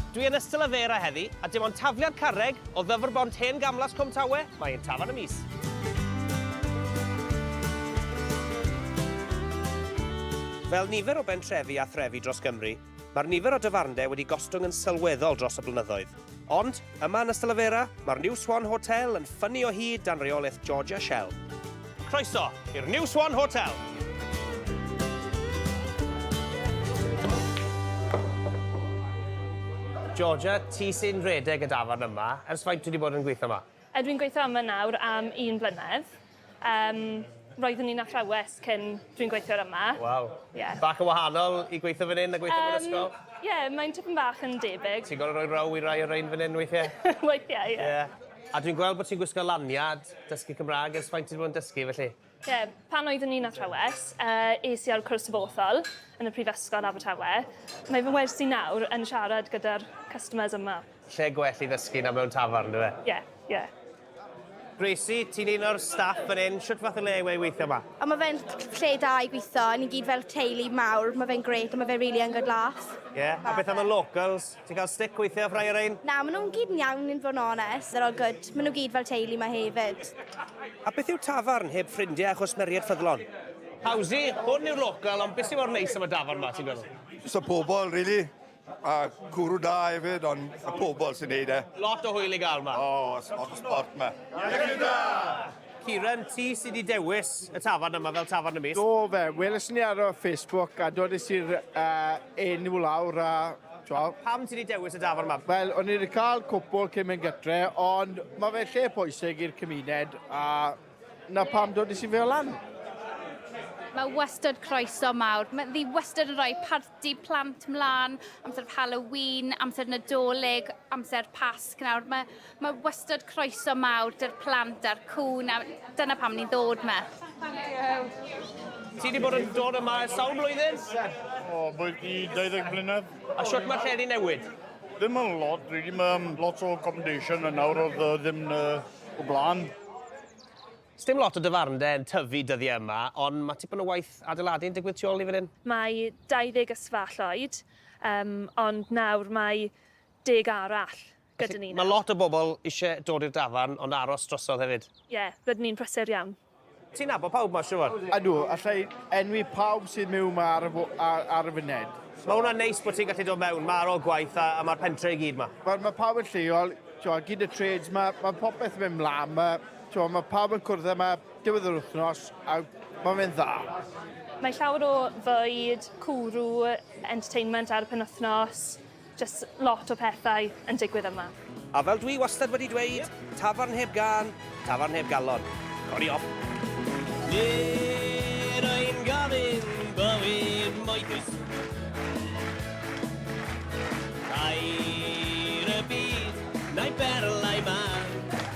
Dwi yn Ystyl y Faerau heddi, a dim ond tafliad carreg o Ddyfr Bont Hen Gamlas Cwm Tawe, mae ein tafarn y mis. Fel nifer o bentrefi a threfi dros Gymru, Mae'r nifer o dafarndai wedi gostwng yn sylweddol dros y blynyddoedd. Ond, yma yn Ystalyfera, mae'r New Swan Hotel yn ffynnu o hyd dan reolaeth George a Shell. Croeso i'r New Swan Hotel! Georgia, ti sy'n rhedeg y dafarn yma. Ers faint ti wedi bod yn gweithio yma? Ydw i'n gweithio yma nawr am un blynedd. Um, roeddwn i'n athrawes cyn dwi'n gweithio'r yma. Waw. Yeah. Bach yn wahanol i gweithio fan hyn a gweithio um, mewn ysgol? Ie, yeah, mae'n tipyn bach yn debyg. Ti'n gorau rhoi row i rai o'r rhain fan hyn weithiau? weithiau, ie. Yeah. Yeah. A dwi'n gweld bod ti'n gwisgo laniad dysgu Cymraeg ers faint ti'n bod yn dysgu felly? Ie, yeah, pan oeddwn i'n athrawes, uh, es i ar cwrs dyfoethol yn y Prifysgol Abertawe. Mae fy wersi nawr yn siarad gyda'r customers yma. Lle gwell i ddysgu na mewn tafarn, dyfe? Ie, ie. Gracie, ti'n un o'r staff fan hyn, shwt fath o le yw e i weithio 'ma? O ma fe'n lle da i gwitho, ni gyd fel teulu mawr, ma fe'n grêt a ma fe rili yn good laff. Ie? A beth am y locals? Ti'n ca'l stick weithie off rhai o rein? Na, ma nw'n gyd yn iawn in fo' yn onest, they're all good, ma nw gyd fel teulu 'ma hefyd. A beth yw tafarn heb ffrindie a chwsmeried ffyddlon? Howsy, hwn yw'r local, ond be sy mor neis am y dafarn 'ma, ti'n meddwl? Jyst y pobol rili. A cwrw da hefyd, ond y pobl sy'n neud e. Lot o hwyl i gael ma. O, oh, sport, sport ma. Iechyd da! Kieran, ti sydd wedi dewis y tafarn yma fel tafarn y mis? Do fe, weles ni ar y Facebook a dodys i'r uh, enw lawr a Twel. Pam ti wedi dewis y dafar yma? Wel, o'n i wedi cael cwpl cyn mynd gytre, ond mae fe lle pwysig i'r cymuned a na pam dod i si fe lan. Mae wastad croeso mawr. Mae ddi wastad yn rhoi Dydd Plant mlaen, amser Halloween, amser Nadolig, amser Pasg nawr. Mae, mae wastad croeso mawr dy'r plant a'r cwn a dyna pam ni'n ddod yma. Ti wedi bod yn dod yma ers sawl blwyddyn? O, bod i 20 blynedd. A sut mae lle di newid? Ddim yn lot, rili. Mae um, lot o accommodation yn nawr oedd uh, ddim uh, o blaen. Sdim lot o dafarndai yn tyfu dyddiau yma, ond mae tipyn o waith adeiladu yn digwydd tu ol i fan hyn. Mae 20 ysfa Lloyd, yym, ond nawr mae deg arall gyda ni nawr. Mae lot o bobl isie dod i'r dafarn, ond aros drosodd hefyd. Ie, rydyn ni'n prysur iawn. Ti'n nabod pawb ma siŵr? Ydw, allai enwi pawb sydd miwn ma ar y ar y funed. Mae hwnna'n neis bod ti'n gallu dod mewn ma ar ol gwaith a a ma'r pentre i gyd ma. Wel ma pawb yn lleol, t'mo gyd y trades ma, ma popeth yn mynd mlan ma. T'mo' ma' pawb yn cwrdd yma diwedd yr wthnos a ma' fe'n dda. Mae llawer o fwyd, cwrw, entertainment ar y penwythnos, jyst lot o pethau yn digwydd yma. A fel dwi wastad wedi dweud, tafarn heb gân, tafarn heb galon. Codi off! Nid ein gofyn bywyd moethus Tair y byd, na'i berlau mân.